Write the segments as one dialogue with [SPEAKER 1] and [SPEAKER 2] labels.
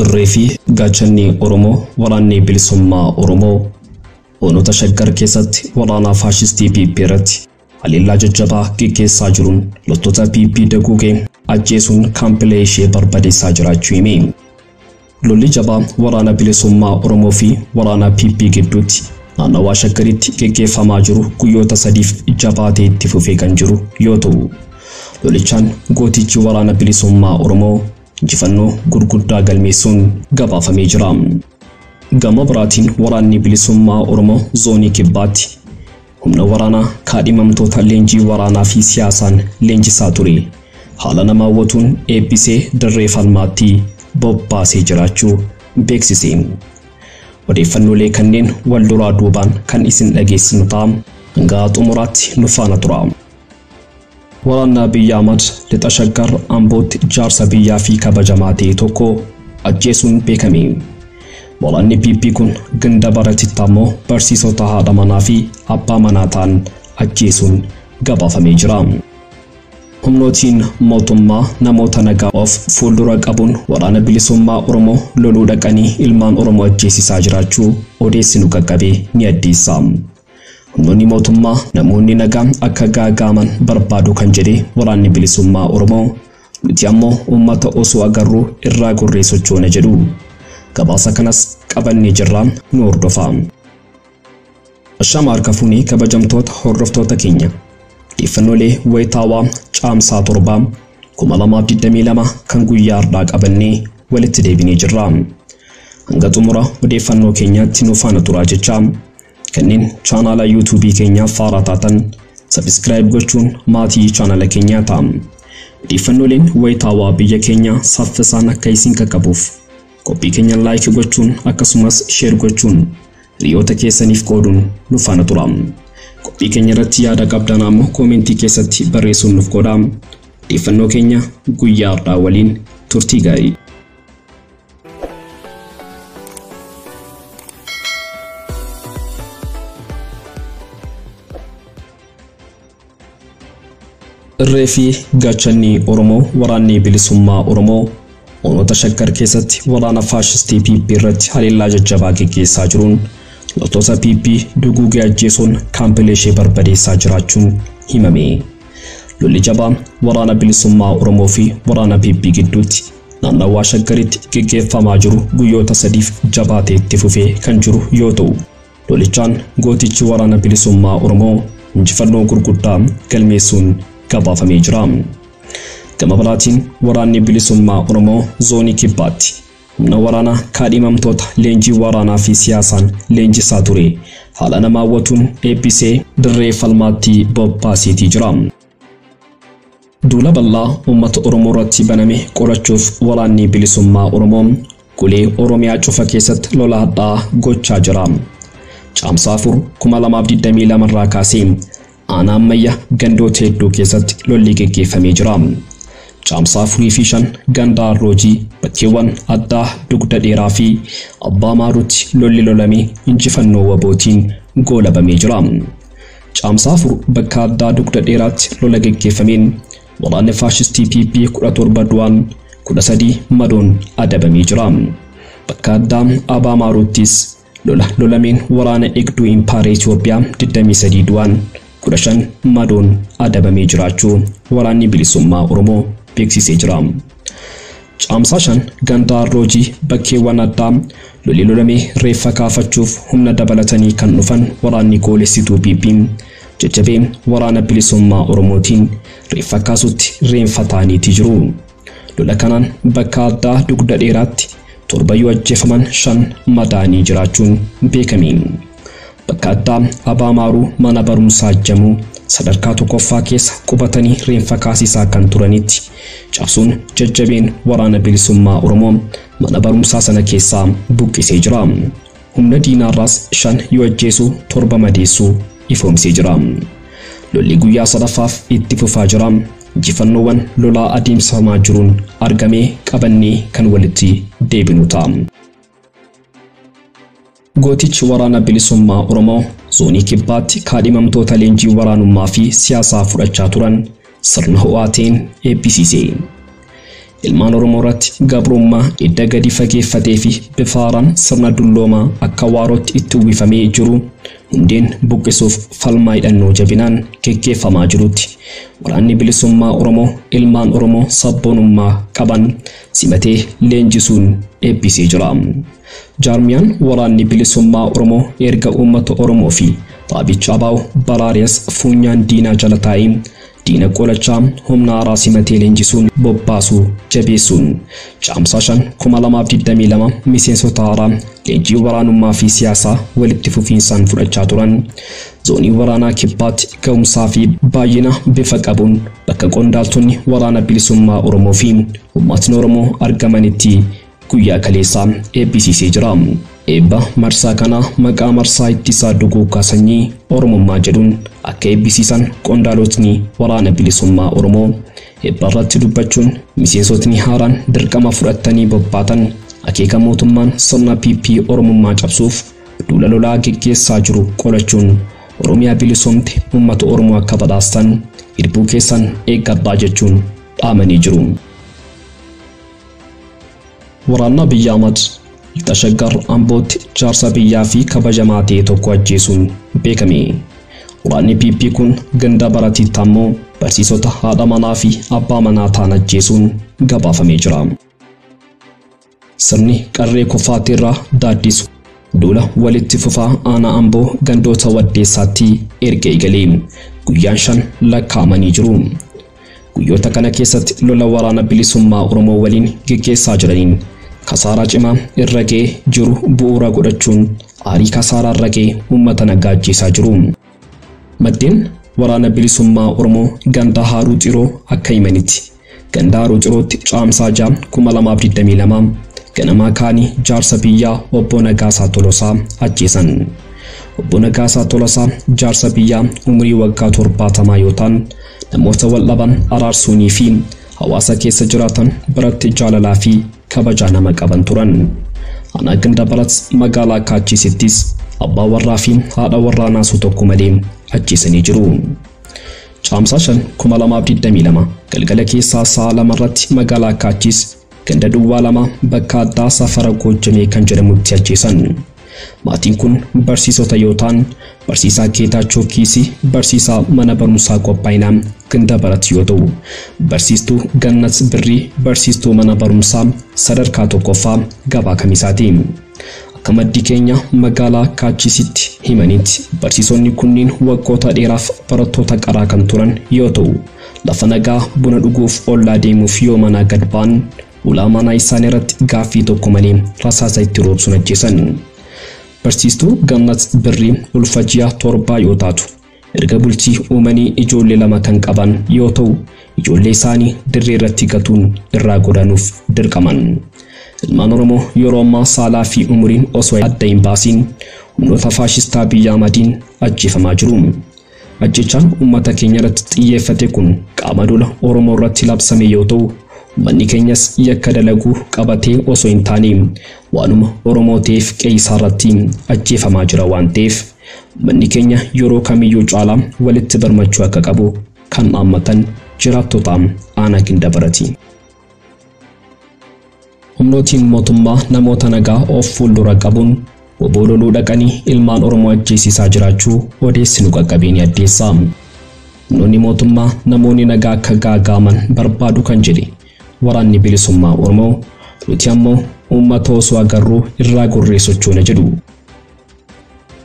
[SPEAKER 1] Irree fi gaachanni Oromoo waraanni bilisummaa Oromoo hoonota shaggar keessatti waraanaa faashistii PP irratti Haleellaa jajjabaa geggeessaa jiruun loltoota PP daguugee ajjeesuun kaampilee ishee barbadeessaa jiraachuu hime. Lolli jabaa waraana bilisummaa Oromoo fi waraana PP gidduutti naannawaa Shaggaritti geggeeffamaa jiru guyyoota sadiif jabaatee itti fufee kan jiru yoo ta'u, lolichaan gootichi waraana bilisummaa Oromoo injifannoo gurguddaa galmeessuun gabaafamee jira. Gama biraatiin waraanni bilisummaa Oromoo zoonii kibbaatti Humna waraanaa kaadhimamtoota leenjii waraanaa fi siyaasaan leenjisaa ture haala nama hawwatuun eebbisee dirree falmaatti bobbaasee jiraachuu beeksise. Odeeffannoolee kanneen wal duraa duubaan kan isin dhageessinu ta'a. Hanga xumuraatti nu faana turaa. Waraanni Abiy Ahmad Lixa Shaggar Ambootti jaarsa biyyaa fi kabajamaa ta'e tokko ajjeesuun beekame. Waraanni PP kun ganda Baratitti ammoo barsiisota haadha manaa fi abbaa manaa ta'an ajjeesuun gabaafamee jira. Humnootiin mootummaa namoota nagaa of fuuldura qabuun waraana bilisummaa Oromoo loluu dhaqanii ilmaan Oromoo ajjeesisaa jiraachuu odeessi nu qaqqabe ni addeessa. Humnoonni mootummaa namoonni nagaa akka gaaga'aman barbaadu kan jedhe Waraanni Bilisummaa Oromoo, nuti ammoo uummata osoo agarruu irraa gorree sochoona jedhu. Gabaasa kanas qabannee jirra nu hordofaa. Ashaama harka fuunee kabajamtoota hordoftoota keenya. Odeeffannoolee wayitaawaa Caamsaa 7 2022 kan guyyaa har'aa qabannee walitti deebinee jirra. Hanga xumura odeeffannoo keenyaatti nu faana turaa jechaa Kanneen chaanaala YouTube keenyaaf haaraa taatan subscribe gochuun maatii chaanaala keenyaa ta'aa. Odeeffannooleen wayitaawaa biyya keenyaa saffisaan akka isin qaqqabuuf qophii keenya like gochuun akkasumas share gochuun hiriyoota keessaniif qooduun nu faana tura. Qophii keenya irratti yaada qabdan ammoo koomentii keessatti barreessuun nuuf qoodaa. Odeeffannoo keenya guyyaa har'aa waliin turtii gaarii. Irree fi gaachanni Oromoo waraanni bilisummaa Oromoo onoota shakkar keessatti waraana faashistii PP irratti haleellaa jajjabaa geggeessaa jiruun loltoota PP duguugee ajjeesuun kaampilee ishee barbadeessaa jiraachuun himame. Lolli jabaan waraana bilisummaa Oromoo fi waraana PP gidduutti naannawaa Shaggaritti geggeeffamaa jiru guyyoota sadiif jabaatee itti fufee kan jiru yoo ta'u, lolichaan gootichi Waraana Bilisummaa Oromoo injifannoo gurguddaa galmeessuun gabaafamee jira. Gama biraatiin Waraanni Bilisummaa Oromoo Zoonii Kibbaatti humna waraanaa kaadhimamtoota leenjii waraanaa fi siyaasaan leenjisaa ture haala nama hawwatuun eebbisee dirree falmaatti bobbaaseetii jira. Duula bal'aa uummata Oromoo irratti baname qolachuuf waraanni bilisummaa Oromoo golee Oromiyaa cufa keessatti lola hadhaa gochaa jira. Caamsaa 4 2022 irraa kaasee aanaa ammayya gandoota hedduu keessatti lolli geggeeffamee jira. Caamsaa 4 fi 5 ganda Arroojii bakkeewwan addaa dugda dheeraa fi abbaa maaruutti lolli lolame injifannoo wabootiin goolabamee jira. Caamsaa 4 bakka addaa dugda dheeraatti lola geggeeffameen waraanni faashistii PP 17 du'aan 13 madoon adabamee jira. Bakka addaa Abaa Maaruuttis lola lolameen waraana eegduu Impaayera Itoophiyaa 23 du'aan 15 madoon adabamee jiraachuu Waraanni Bilisummaa Oromoo beeksisee jira. Caamsaa 5 ganda Arroojii bakkeewwan addaa lolli lolame reeffa kaafachuuf humna dabalatanii kan dhufan waraanni goolessituu PP jajjabee Waraana Bilisummaa Oromootiin reeffa kaasutti reenfa ta'aniiti jiru. Lola kanaan bakka addaa Dugda Dheeraatti torba yoo ajjeefaman shan madaa'anii jiraachuun beekame. Kattaa Abaa Maaruu mana barumsaa Jamuu sadarkaa tokkoffaa keessa qubatanii reenfa kaasisaa kan turanitti cabsuun jajjabeen Waraana Bilisummaa Oromoo mana barumsaa sana keessaa buqqisee jira. Humna diinaarraas shan yoo ajjeesu torba madeessuu ifoomsee jira. Lolli guyyaa sadaffaaf itti fufaa jira. Injifannoowwan lolaa adeemsifamaa jiruun argame qabannee kan walitti deebinu ta'a. Gootichi Waraana Bilisummaa Oromoo Zoonii Kibbaatti kaadhimamtoota leenjii waraanummaa fi siyaasaa fudhachaa turan sirna ho'aa ta'een eebbisiise. Ilmaan Oromoo irratti gabrummaa edda gadi fageeffatee fi bifa haaraan sirna dulloomaa akka waarootti itti uwwifamee jiru hundeen buqqisuuf falmaa hidhannoo jabinaan geggeeffamaa jirutti Waraanni Bilisummaa Oromoo ilmaan Oromoo sabboonummaa qaban simatee leenjisuun eebbisee jira. Jaarmiyaan Waraanni Bilisummaa Oromoo erga uummata Oromoo fi dhaabicha ABO baraaree as fuunyaan diinaa jala taa'ee diina qolachaa humna haaraa simatee leenjisuun bobbaasuu jabeessuun Caamsaa 5,2022 miseensota haaraa leenjii waraanummaa fi siyaasaa walitti fufiinsaan fudhachaa turan Zoonii Waraanaa Kibbaatti gahumsaa fi baay'ina bifa qabuun bakka qondaaltonni Waraana Bilisummaa Oromoo fi uummatni Oromoo argamanitti guyyaa kaleessaa eebbisiisee jira. Eebba marsaa kanaa maqaa marsaa ittisaa duguuggaa sanyii Oromummaa jedhuun akka eebbisiisan qondaalotni Waraana Bilisummaa Oromoo eebba irratti dubbachuun miseensotni haaraan dirqama fudhattanii bobbaatan akeeka mootummaan sirna PP Oromummaa cabsuuf duula lolaa geggeessaa jiru qolachuun Oromiyaa bilisoomte uummata Oromoo akka badhaastan irbuu keessan eeggadhaa jechuun dhaamanii jiru. Waraannaa biyya Amad lixa Shaggar Ambootti jaarsa biyyaa fi kabajamaa ta'e tokko ajjeesuun beekame. Waraanni PP kun ganda Baratiitti ammoo barsiisota, haadha manaa fi abbaa manaa ta'an ajjeesuun gabaafamee jira. Sirni qarree kufaatii irraa daaddisu duula walitti fufaa aanaa Amboo gandoota Waddeessaatti erga eegalee guyyaan shan lakkaa'amanii jiru. Guyyoota kana keessatti lola Waraana Bilisummaa Oromoo waliin geggeessaa jiraniin kasaaraa cimaa irra ga'ee jiru bu'uura godhachuun aarii kasaaraa irra ga'e uummata nagaa ajjeesaa jiru. Maddeen Waraana Bilisummaa Oromoo ganda Haaruu Xiroo akka himanitti, ganda Haaruu Xirootti Caamsaa 6, 2022 ganamaa ka'anii jaarsa biyyaa Obbo Nagaasaa Tolosaa ajjeesan. Obbo Nagaasaa Tolasaa jaarsa biyyaa umurii waggaa 70 yoo ta'an, Namoota wal dhaban araarsuunii fi hawaasa keessa jiraatan biratti jaalalaa fi kabajaa nama qaban turan. Aanaa Gindabarat magaalaa Kaachiisittis abbaa warraa fi haadha warraa naasuu tokko malee ajjeesanii jiru. Caamsaa 5, 2022 galgala keessaa sa'a lama irratti magaalaa Kaachiis ganda duwwaa lama bakka addaa safara Goojjamee kan jedhamutti ajjeesan. Maatiin kun barsiisota yoo ta'an, barsiisaa Geetaachoo Kiisii barsiisaa mana barumsaa qophaa'inaa Gindabarat yoo ta'u, barsiistuu Gannat Birrii barsiistuu mana barumsaa sadarkaa tokkoffaa Gabaa Kamisaa ti. Akka maddi keenya magaalaa Kaachiisitti himanitti, barsiisonni kunniin waggoota dheeraaf barattoota qaraa kan turan yoo ta'u, lafa nagaa buna dhuguuf ollaa deemuuf yoo manaa gad ba'an Ulaa manaa isaanii irratti gaaffii tokko malee rasaasa itti roobsuun ajjeesan. Barsiistuu Gannat Birrii ulfa ji'a torbaa yoo taatu, erga bultii uumanii ijoollee lama kan qaban yoo ta'u, ijoollee isaanii dirree irratti gatuun irraa godaanuuf dirqaman. Ilmaan Oromoo yeroo ammaa saalaa fi umuriin osoo adda hin baasiin humnoota faashistaa Abiy Ahmadiin ajjeefamaa jiru. Ajjeechaan ummata keenya irratti xiyyeeffate kun qaama duula Oromoo irratti labsame yoo ta'u, ummanni keenyas yakka dalagu qabatee osoo hin taane waanuma Oromoo ta'eef qe'ee isaa irratti ajjeefamaa jira waan ta'eef ummanni keenya yeroo kamiyyuu caalaa walitti birmachuu akka qabu kan dhaammatan jiraattota aanaa Gindabarati. Humnootiin mootummaa namoota nagaa of fuuldura qabuun wbo loluu dhaqanii ilmaan Oromoo ajjeesisaa jiraachuu odeessi nu qaqqabe ni addeessa. Humnoonni mootummaa namoonni nagaa akka gaaga'aman barbaadu kan jedhe Waraanni Bilisummaa Oromoo, nuti ammoo uummata osoo agarruu irraa gorree sochoona jedhu.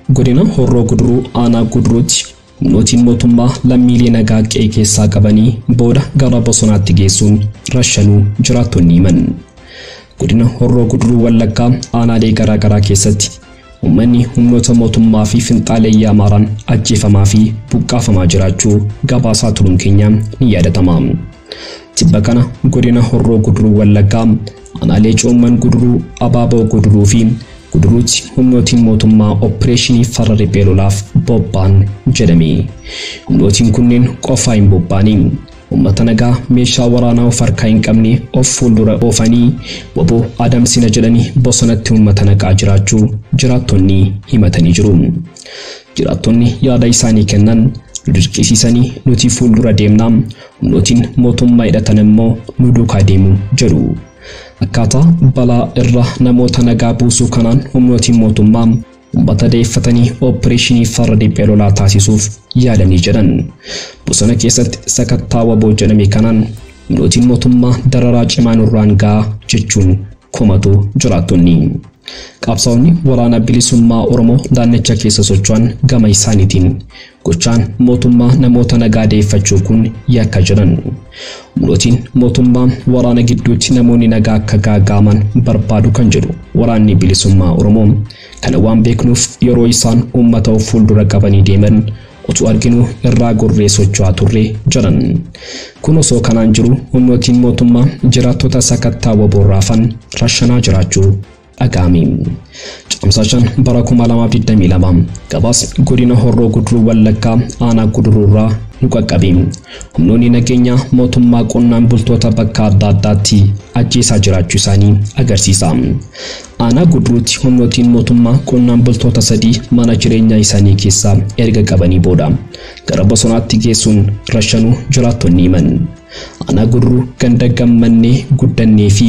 [SPEAKER 1] Godina Horroo Guduruu Aanaa Guduruutti humnootiin mootummaa lammiilee nagaa qe'ee keessaa qabanii booda gara bosonaatti geessuun rashanuu jiraattonni himan. Godina Horroo Guduruu Wallaggaa aanaalee garaa garaa keessatti uummanni humnoota mootummaa fi finxaaleeyyii Amaaraan ajjeefamaa fi buqqaafamaa jiraachuu gabaasaa turuun keenya ni yaadatama. Tibba kana godina Horroo Guduruu Wallaggaa Aanaalee Coomman Guduruu, Abaaboo Guduruu fi Guduruutti humnootiin mootummaa oppireeshinii farra riphee lolaaf bobba'an jedhame. Humnootiin kunneen qofaa hin bobbaane. Uummata nagaa meeshaa waraanaa of harkaa hin qabne of fuuldura oofanii wbo adamsina jedhanii bosonatti uummata naqaa jiraachuu jiraattonni himatanii jiru. Jiraattonni yaada isaanii kennan, Nu dirqisiisanii nuti fuuldura deemna, Humnootiin mootummaa hidhatan immoo nu duukaa deemu jedhu. Akkaataa balaa irra namoota nagaa buusuu kanaan humnootiin mootummaa ummata dayeeffatanii oppireeshinii farra diphee lolaa taasisuuf yaalanii jedhan. Bosona keessatti sakattaa waboo jedhame kanaan humnootiin mootummaa dararaa cimaa nurraan ga'a jechuun komatu jiraattonni. Qabsaa'onni waraana bilisummaa Oromoo naannicha keessa socho'an gama isaaniitiin Gochaan mootummaa namoota nagaa deeffachuu kun yakka jedhan. Humnootiin mootummaa waraana gidduutti namoonni nagaa akka gaaga'aman barbaadu kan jedhu Waraanni Bilisummaa Oromoo, kana waan beeknuuf yeroo isaan uummata of fuuldura qabanii deeman otuu arginuu irraa gorree socho'aa turre jedhan. Kun osoo kanaan jiru humnootiin mootummaa jiraattota sakattaa wbo irraa hafan rashanaa jiraachuu dhaga'ame. Caamsaa 5 bara 2022 gabaasni godina Horroo Guduruu Wallaggaa aanaa Guduruurraa nu qaqqabe. Humnoonni nageenyaa mootummaa qonnaan bultoota bakka adda addaatti ajjeesaa jiraachuu isaanii agarsiisa. Aanaa Guduruutti humnootiin mootummaa qonnaan bultoota sadii mana jireenyaa isaanii keessaa erga qabanii booda gara bosonaatti geessuun rashanuu jiraattonni himan. Aanaa Gurruu ganda Gammannee Guddannee fi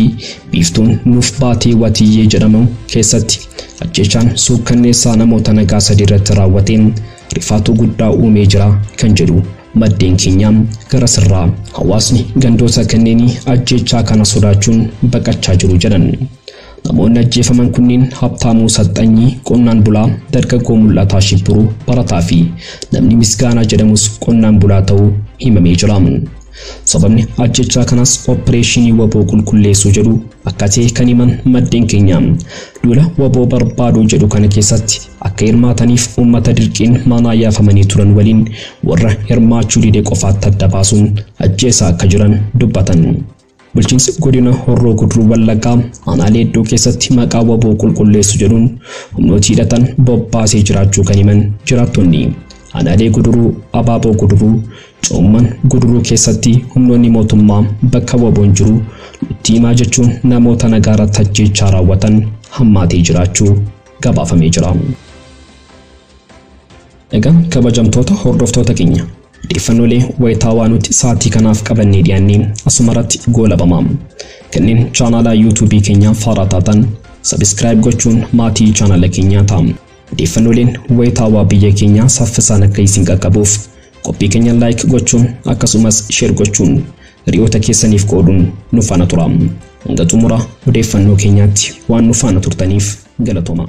[SPEAKER 1] Biiftuun Nuuf Baatee Watiyyee jedhamu keessatti ajjeechaan suukkanneessaa namoota nagaa sadii irratti raawwate rifaatuu guddaa uumee jira kan jedhu maddeen keenya garasirraa hawaasni gandoota kanneenii ajjeechaa kana sodaachuun baqachaa jiru jedhan. Namoonni ajjeefaman kunniin Habtaamuu Saxxanyii, qonnaan bulaa, dargaggoo Mul'ataa Shibbiruu, barataa fi namni Misgaanaa jedhamus qonnaan bulaa ta'uu himamee jira. Sababni ajjeechaa kanaas oppireeshinii wbo qulqulleessuu jedhu akka ta'e kan himan maddeen keenya, duula wbo barbaaduu jedhu kana keessatti akka hirmaataniif uummata dirqiin manaa yaafamanii turan waliin warra hirmaachuu dide qofaatti adda baasuun ajjeesaa akka jiran dubbatan. Bulchiinsi Godina Horroo Guduruu Wallaggaa Aanaa Leeddoo keessatti maqaa wbo qulqulleessu jedhuun humnooti hidhatan bobbaasee jiraachuu kan himan jiraattonni Aanaalee Guduruu, Abaaboo Guduruu, Coomman Guduruu keessatti humnoonni mootummaa bakka wboon jiru nutti himaa jechuun namoota nagaa irratti ajjeechaa raawwatan hammaatee jiraachuu gabaafamee jira. Egaa kabajamtoota hordoftoota keenya odeeffannolee wayitaawaa nuti sa'aatii kanaaf qabannee dhiyaannee asumarratti goolabama. Kanneen chaanaalaa yuutuubii keenyaa faaraa taatan sabiskiraayib gochuun maatii chaanala keenyaa ta'a. Odeeffannoleen wayitaawaa biyya keenyaa saffisaan akka isin qaqqabuuf qophii keenya laayik gochuun akkasumas sheer gochuun hiriyoota keessaniif qooduun nu faana tura. Hanga xumura odeeffannoo keenyaatti waan nu faana turtaniif galatoomaa.